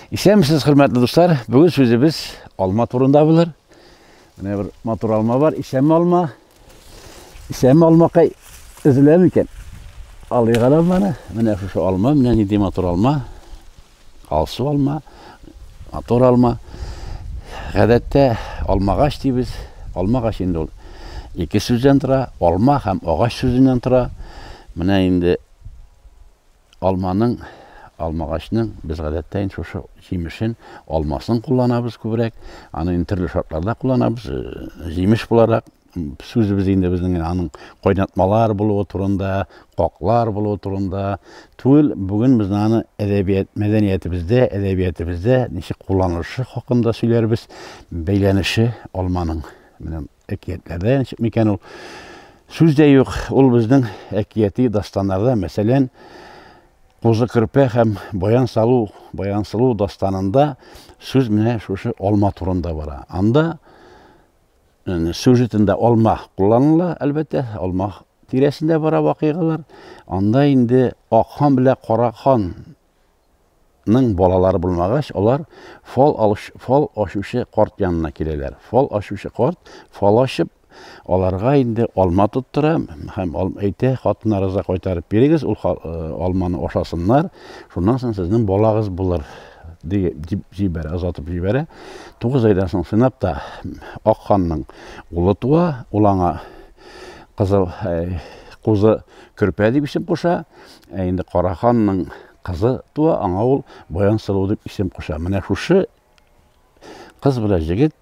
Исәнмесез, хөрмәтле дуслар. Бүген сүзебез алма турында булыр. Менә бер матур алма бар. Исәнме алма? Исәнме алмакай? Өзелә микән? Алыйк алманы. Менә шушы алма, менә нинди матур алма. Алсу алма, матур алма. Гадәттә алмагач дибез. Алмагач инде ул ике сүздән тора, алма һәм агач сүзеннән тора. Менә инде Алманың, алмагачның без гадәттә инде шушы җимешен, алмасын кулланабыз күбрәк. Аны инде төрле шартларда кулланабыз. Җимеш буларак сүзебез инде безнең аның кайнатмалар булуы турында, каклар булуы турында түгел. Бүген без аны әдәбият, мәдәниятебездә, әдәбиятебездә ничек кулланылышы хакында сөйләрбез. Бәйләнеше алманың менә Әкиятләрдән чыкмый икән ул. Сүз дә юк, ул безнең әкияти дастаннарда, мәсәлән, Козы Керпе һәм Баян салу, Баян сылу дастанында сүз менә шушы алма турында бара. Анда сюжетында алма кулланыла, әлбәттә, алма тирәсендә бара вакыйгалар. Анда инде Акхан белән Карахан Ның балалары булмагач, алар фал алыш, фал ашучы карт янына киләләр. Фал ашучы карт фал ашып, аларга инде алма тоттыра һәм әйтә, хатына рыза кайтарып бирегез, ул алманы ашасыннар, шуннан соң сезнең балагыз булыр дип җибәрә, озатып җибәрә. Тугыз айдан соң сынап та Ак ханның улы туа, ул аңа кызыл кузы көрпә дип исем куша. Ә инде Кара ханның кызы туа, аңа ул Баянсылу дип исем куша. Менә шушы кыз белән җегет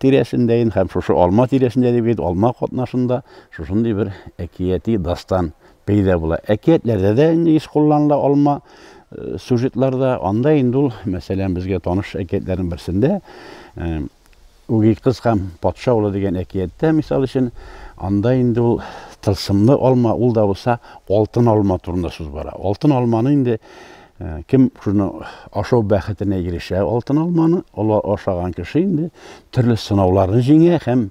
тирәсендә инде һәм шушы алма тирәсендә дип әйт, алма катнашында шушындый бер әкияти дастан пәйда була. Әкиятләрдә дә инде еш кулланыла алма сюжетларда. Анда инде ул, мәсәлән, безгә таныш әкиятләрнең берсендә Үги кыз һәм патша улы дигән әкияттә, мисал өчен, анда инде ул тылсымлы алма, ул да булса алтын алма турында сүз бара. Алтын алманы инде Э, кем шуны ашау бәхетенә ирешә алтын алманы олар ашаган кеше инде төрле сынауларны җиңә һәм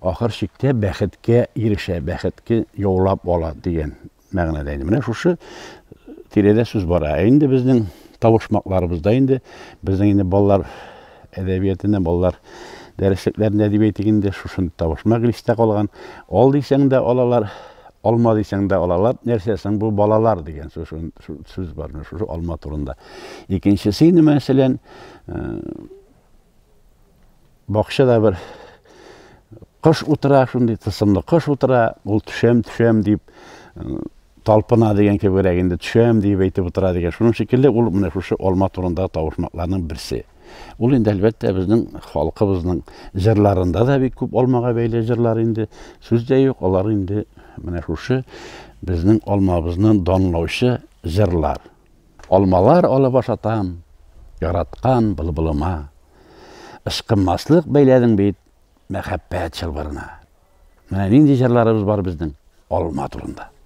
ахыр чиктә бәхеткә ирешә бәхетке яулап ала дигән мәгънәдә инде менә шушы тирәдә сүз бара ә инде безнең табышмакларыбызда инде безнең инде балалар әдәбиятында балалар дәреслекләрендә дип әйтик инде шушындый табышмак истә калган ал дисәң дә алалар алма дисәң дә алалар нәрсә соң бу балалар дигән сүз бар шушы алма турында икенчесе инде мәсәлән э, Бакчада бер кыш утыра, шундый тысымлы кыш утыра, ул төшәм, төшәм дип талпына дигән кебегрәк инде төшәм дип әйтеп утыра дигән. Шуның шикелле ул менә шушы алма турында тавышмакларның берсе. Ул инде әлбәттә безнең халкыбызның җырларында да бик күп алмага бәйле җырлар инде. Сүз дә юк, алар инде менә шушы безнең алмабызны данлаучы җырлар. Алмалар алып ашатам, яраткан былбылыма. Ычкынмаслык бәйләдең бит мәхәббәт чылбырына. Менә нинди җырларыбыз бар безнең алма турында.